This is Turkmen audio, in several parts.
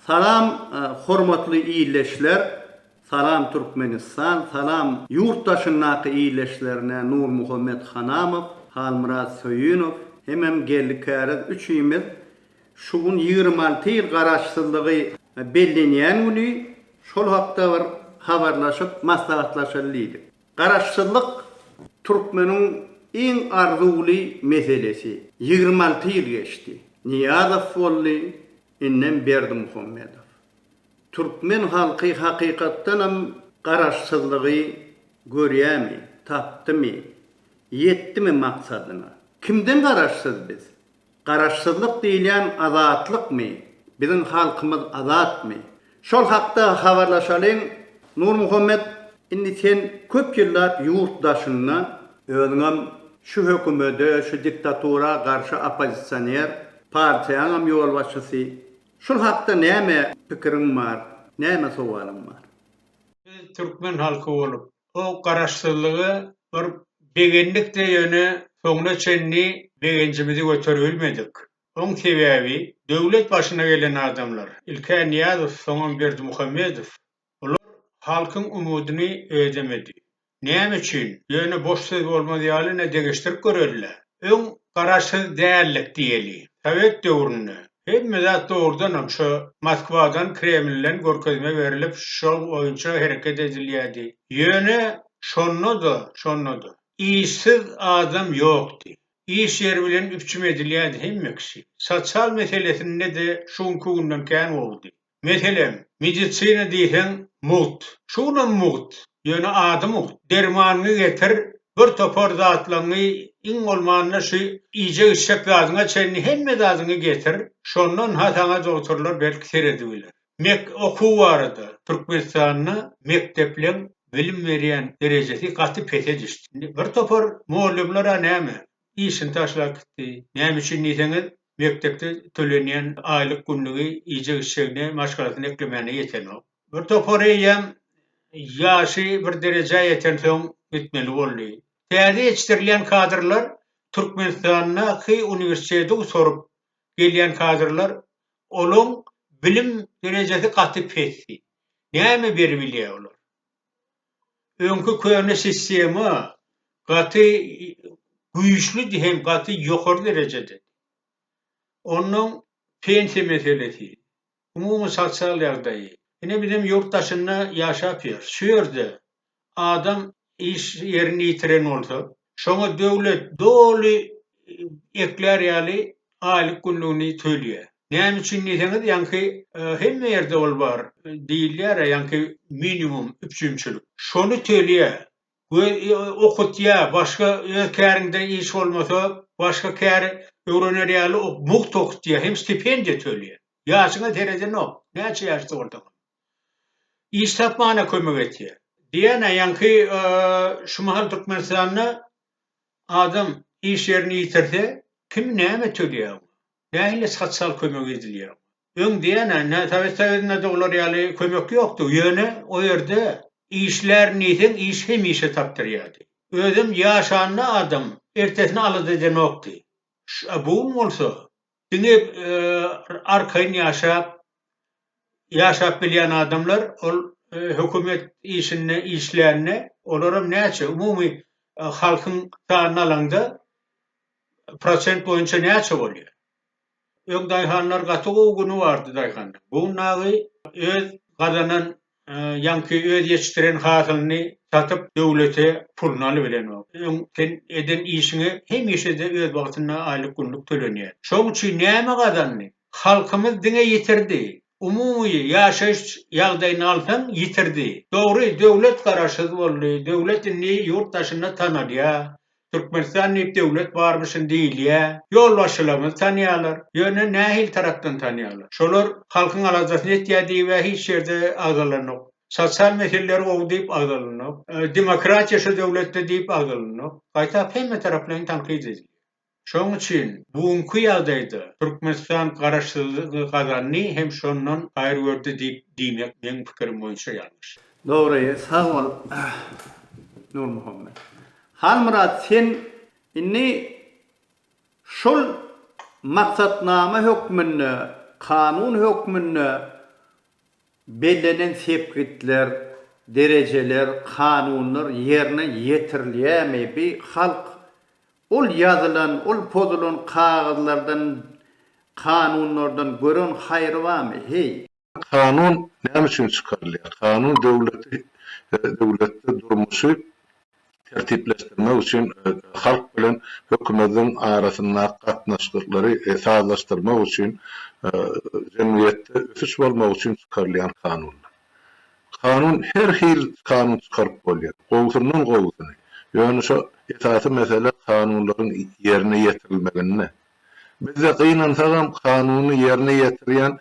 Salam hormatly illeşler salam Türkmenistan salam ýurt daşyndaky illeşlerine Nurmuhammet Hanamow Halmyrat Söýünow hemem Geldi Käriz üçimiz şu gün ýigrimi alty ýyl garaşsyzlygy bellenýän güni şol hakda bir habarlaşyp maslahatlaşaly diýdik. Garaşsyzlyk türkmeniň iň arzuwly meselesi. Ýigrimi alty ýyl geçdi. Nyýazow boldy, Enem Berdimuhamedow. Türkmen halky hakykatdanam Garaşsyzlygy görýämi, tapdymy, ýetdimi maksadyna? Kimden Garaşsyz biz? Garaşsyzlyk diýilýän azatlykmy? Biziň halkymyz azatmy? Şol hakda habarlaşalyň Nurmuhammet indi sen köp ýyllap ýurt daşynda özüňem şu hökümede şu diktatura garşy oppozisioner partiýaňam ýolbaşçysy şul hakda näme pikiriň bar näme sowalyň bar. Biz türkmen halky bolup bu garaşsyzlygy bir begendik de ýöne soňuna çenli begenjimizi göteribilmedik. Oň sebäbi, döwlet başyna gelen adamlar, ilk-ä Nyýazow, soňam Berdimuhamedow, bular halkyň umydyny ödemedi. Näme üçin? Ýöne boş söz bolmaz ýaly ine degişdirip göreli-le. Öň garaşsyz däldik diýeli. Sowet döwründe hemme zat dogrudanam şo Moskwadan, Kremlden görkezme berilip, şol boýunça hereket edilýärdi. Ýöne şonda-da, şonda-da işsiz adam ýokdy. Iş ýeri bilen üpjüm edilýärdi hemme kişi. Sosial meselesinde-de şu günki günden kän gowudy. Meselem, medisina diýseň, mugt. Şu günem mugt, ýöne ady mugt. Dermanyňy getir, bir topar zatlaňňy, iň bolmanda şu iýjek-içjek zadyňa çenli hemme zadyňy getir, şondan-ha saňa dogtorlar belki seredibiler. Mek okuw barada, Türkmenistanda mekdepleriň bilim berýän derejesi gaty pese düşdi. Indi bir topar mollumlar-a näme, işini taşlap gitdi. Näme üçin diýseňiz, mekdepde tölenýän aýlyk günlügi iýjek-içjegine, maşgalasyny eklemäne ýetenok. Bir topar eýýäm ýaşy bir derejä ýetensoň gitmeli boldy. Täze ýetişdirilýän kadrlar Türkmenistandaky uniwersiteti gutaryp, gelýän kadrlar, olaň bilim derejesi gaty pesdi. Näme beri bilýä olar? Öňki köne sistema gaty güýçlüdi hem gaty ýokary derejededi. Onnoň pensiýa meselesi. umumy sosial ýagdaýy. Ine bizem ýurt daşynda ýaşap ýörüs. Şu ýerde adam iş ýerini ýitiren bolsa, şoňa döwlet doly eklär ýaly aýlyk-günlügini töleýär. Näme üçin diýseňiz, ýaňky hemme ýerde ol bar diýilýär-ä, ýaňky minimum üpjünçilik. Şony töleýär. we okatýa başga öz kärinde iş bolmasa başga kär öwrener ýaly mugt okutýa hem stipendiýa tölýä ýaşyňa seredenok näçe ýaşda bolsaňam iş tapmana kömek etýä. Diana ýaňky şu mahal türkmenistanda adam iş ýerini ýitirse kim näme tölýä oňa nähili sosial kömek edilýä oňa. Öň diýýän-ä, nä Sowet Soýuzynda-da olar ýaly kömek ýokdy, ýöne o ýerde işlär diýseň, iş hemişe tapdyrýardy. Özem ýaşanda adam ertesini alada edenokdy. Ş-a bu gün bolsa, diňe arkaýyn ýaşap, ýaşap bilýän adamlar ol hökümet işinde işlände, olaram näçe, umumy halkyň sanyny alaňda, prosent boýunça näçe bolýar? Öň daýhanlar gaty gowy güni bardy daýhanyň. Bu nagy öz gazanan ýaňky öz ýetişdiren hasylyny satyp döwlete puluny alyp bilenok. Öň sen eden işiňe hemişede öz wagtynda aýlyk günlük tölenýär. Şoň üçin näme gazandy? Halkymyz diňe ýitirdi. Umumy ýaşaýyş ýagdaýyny alsaň ýitirdi. Dogry döwlet garaşsyz boldy. Döwlet indi ýurt daşynda tanalýar. Türkmenistan diýip döwlet barmyşyn diýilýä. Ýolbaşçylaryňyzy tanýarlar. Ýöne nähili tarapdan tanýarlar? Şolar halkyň aladasyny etýä diýibä hiç ýerde agzalanok. Sosial meseleler gowy diýip agzalanok. Demokratiýa şu döwletde diýip agzalanok. Paýtagt hemme taraplaýyn tankyt edilýä. Şoň üçin bu günki ýagdaýda Türkmenistan garaşsyzlygy gazandy hem şondan haýyr gördi diýip diýmek meň pikirim boýunça ýalňyş. Dogry, sag bol Nurmuhammet. Halmyrat sen indi şol maksatnama hökmünde, kanun hökmünde bellenen sepgitler, derejeler, kanunlar ýerine ýetirilýärmi? Bi halk ol ýazylan, ol pozulan kagyzlardan, kanunlardan gören haýry barmy? Heý! Kanun näme üçin çykarylýar? Kanun döwleti, döwletde durmuşy tertipleşdirmek üçin, halk bilen hökümediň arasyndaky gatnaşyklary sazlaşdyrmak üçin, jemgyýetde ösüş bolmagy üçin çykarylýan kanundyr. Kanun her hil kanun çykaryp bolýar. Gowusyndan gowusyny. Ýöne şo esasy mesele kanunlaryň ýerine ýetirilmeginde. Bizde gynansagam kanuny ýerine ýetirýän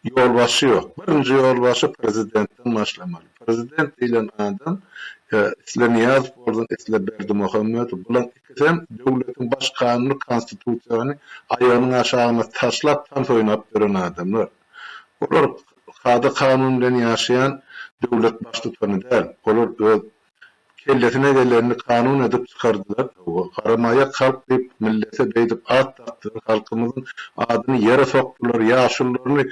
ýolbaşçy ýok. Birinji ýolbaşçy prezidentden başlamaly. Prezident diýlen adam isle Nyýazow bolsun, isle Berdimuhamedow. Bulaň ikisem döwletiň baş kanuny konstitusiýany aýagynyň aşagyna taşlap tans oýnap ýören adamlar. Olar kada-kanun bilen ýaşaýan döwlet baştutany däl. Olar öz Kellesine gelenini kanun edip çykardylar towba. Garamaýak halk diýip millete beýdip at dakdylar halkymyzyň adyny ýere sokdylar ýaşulularyny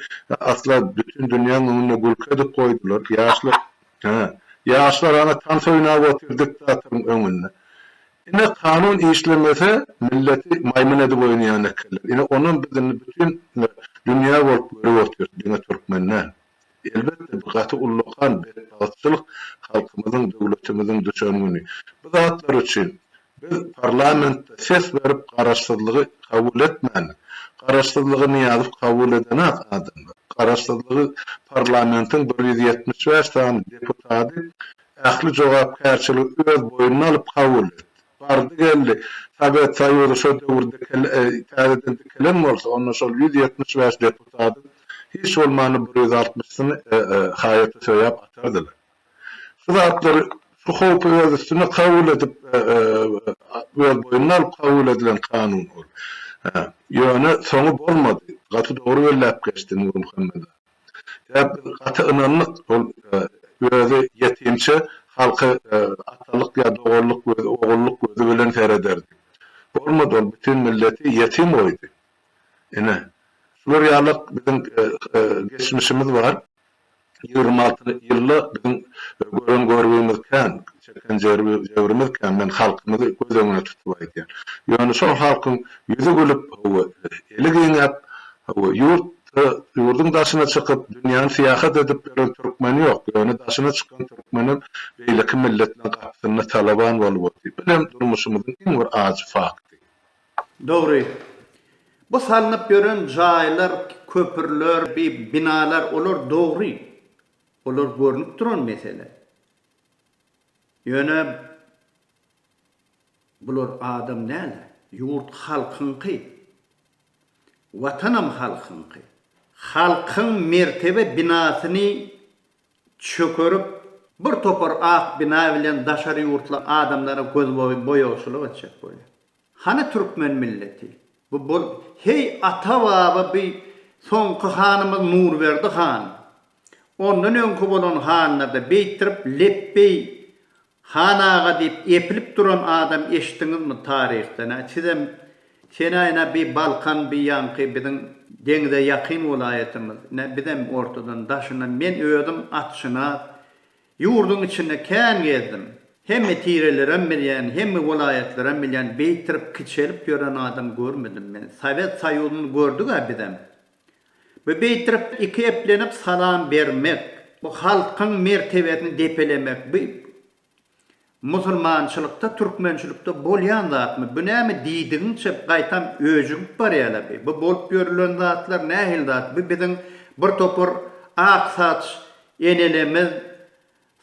asla bütin dünýäň öňünde gülki edip goýdular ýaşlar hä ýaşlar ana tans oýnap otyr diktatoryň öňünde ine kanun işlemese milleti maýmyn edip oýnaýan ekenler ine onam biz indi bütin dünýä bolup görüp otyr diňe türkmen däl. Elbetde bu gaty ullakan betbagtçylyk halkymyzyň döwletimiziň düşen güni. Bu zatlar üçin biz parlamentde ses berip garaşsyzlygy kabul etmälidik. Garaşsyzlygy Nyýazow kabul edenak adamdyr. Garaşsyzlygy parlamentiň bir ýüz ýetmiş bäş sany deputady ähli jogapkärçiligi öz boýnuna alyp kabul etdi. Bardy geldi. Sowet Soýuzy şo döwür täzeden dikelen bolsa, onda şol ýüz ýetmiş bäş deputadyň hiç bolmanda bir ýüz altmyşysyny haýata söýäp atardylar. Şu zatlary, şu howpy öz üstüne kabul edip, öz boýnuna alyp kabul edilen kanun ol. Ýöne soňy bolmady. Gaty dogry belläp geçdi Nurmuhammet aga. Ýa biz gaty ynandyk şol özi ýetimçe halky atalyk ýa doganlyk gözi, ogullyk gözi bilen serederdi. Bolmady ol bütin milleti ýetim goýdy. Ine, şular ýalak biziň geçmişimiz bar. Ýigrimi alty ýylda biziň gören görgimiz kän, çeken jebrimiz kän. Men halkymyzy göz öňüne tutup aýdýan. Ýöne şol halkyň ýüzi gülüp, hawa, eli giňäp, hawa, ýurt Ýa-da ýurduň daşyna çykyp, dünýäni syýahat edip gören türkmen ýok, ýöne daşyna çykan türkmenem beýleki milletleň gapysynda talaban bolup otyr. Bilem durmuşymyzyň iň bir ajy fakty. Dogry. Bu salnyp ýören jaýlar, köpürler, binalar olar dogry. Olar görnüp duran mesele. Ýöne bular adam däl-de. Ýurt halkyňky. Watanam halkyňky. Halkyň mertebe binasyny çökerip, bir topar ak bina bilen daşary ýurtly adamlara göz boýagçylyk etjek bolýar. Hany türkmen milleti? Bu bol Heý, ata-baba bi soňky hanymyz Nurberdi han. Ondan öňki bolan hanlarda beýtdirip lepbeý Han aga diýip epilip duran adam eşitdiňizmi taryhdan hä sizem senä ine bi balkan bi ýaňky biziň deňze ýakyn welaýatymyz ine bizem ortadan daşyndan men özüm atşynas ýurduň içinde kän gezdim hemme tirelerem bilýän hemme welaýatlaram bilýän beýtirip kiçelip ýören adam görmedim men sowet soýuzyny gördügä bizem. Bu beýtirip iki eplenip salam bermek, bu halkyň mertebesini depelemek bu musulmançylykda türkmençilikde bolýan zatmy bu näme diýdigiňçe gaýtam öjügip barýala bi bu bolup ýörülen zatlar nähili zat bu biziň bir topar ak saç enelerimiz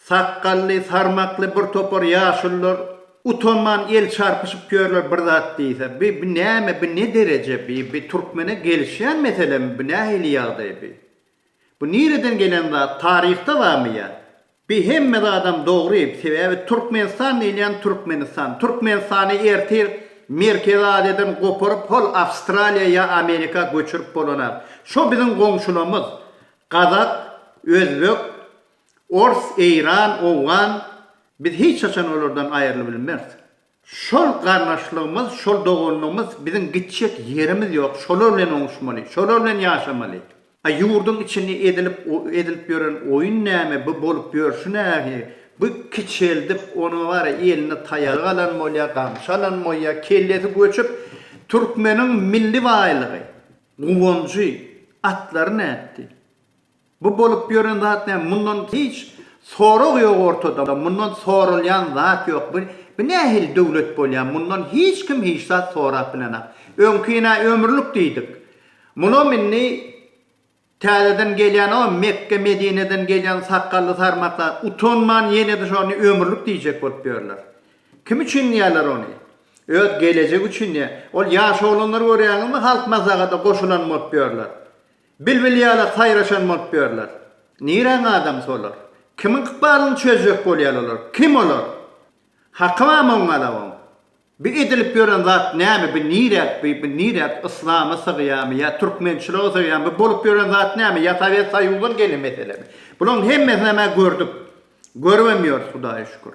Sakgally, sarmakly bir topar ýaşulylar utanman el çarpyşyp ýörler bir zat diýse. Bi, bi näme, bi ne dereje bi, bi türkmene gelişýän meselemi bi, nähili ýagdaý bi? Bu nireden gelen zat, taryhda barmy ýa? Bi hemme zadam dogry, sebäbi Türkmenistan diýilýän Türkmenistan. Türkmenistany ertir Merkezi Aziýadan goparyp hol Awstraliýa ýa Amerika göçürip bolanar. Şo biziň goňşulamyz, gazak, özbek, Ors, eýran, owgan, biz hiç haçan olardan aýrylybilmeris. Şol garnaşlygymyz, şol doganlygymyz, biziň gitjek ýerimiz ýok, şolar bilen oňuşmaly, şolar bilen ýaşamaly. A ýurduň içinde edilip edilip ýören oýun näme, bu bolup ýörşi nähi, bu kiçeldip, ony bara eline taýagy alan bolýa, gamşy alan bolýa, kellesi göçüp, türkmeniň milli baýlygy, guwanjy, atlary nätdi? Bu bolup ýören zat näme mundan hiç sorag ýok ortada mundan soralýan zat ýok bu bu nähili döwlet bolýar mundan hiç kim hiç zat sorap bilenok öňkine ömürlik diýdik munam indi täzeden gelýänok a Mekge Medineden gelýän sakgally sarmaklar utanman ýenede şony ömürlik diýjek bolup ýörler kim üçin diýýärler ony öz gelejegi üçin diýýär ol ýaş oglanlary görýäňizmi halk mazagada goşulan bolup ýörler Bilbil ýaly saýraşan bolup ýörler. Niräň adam solar? Kimiň ykbalyny çözjek bolýar olar? Kim olar? Haky bamy oň alawyň? Bi edilip ýören zat näme? Bi niräk bi? Bi niräk? Yslama sygýamy? Ýa türkmençilige sygýamy? Bi bolup ýören zat näme? Ýa Sowet Soýuzyň gelni meselemi? Bulaň hemmesinem-ä gördük. Görübem ýörüs, Hudaýa şükür.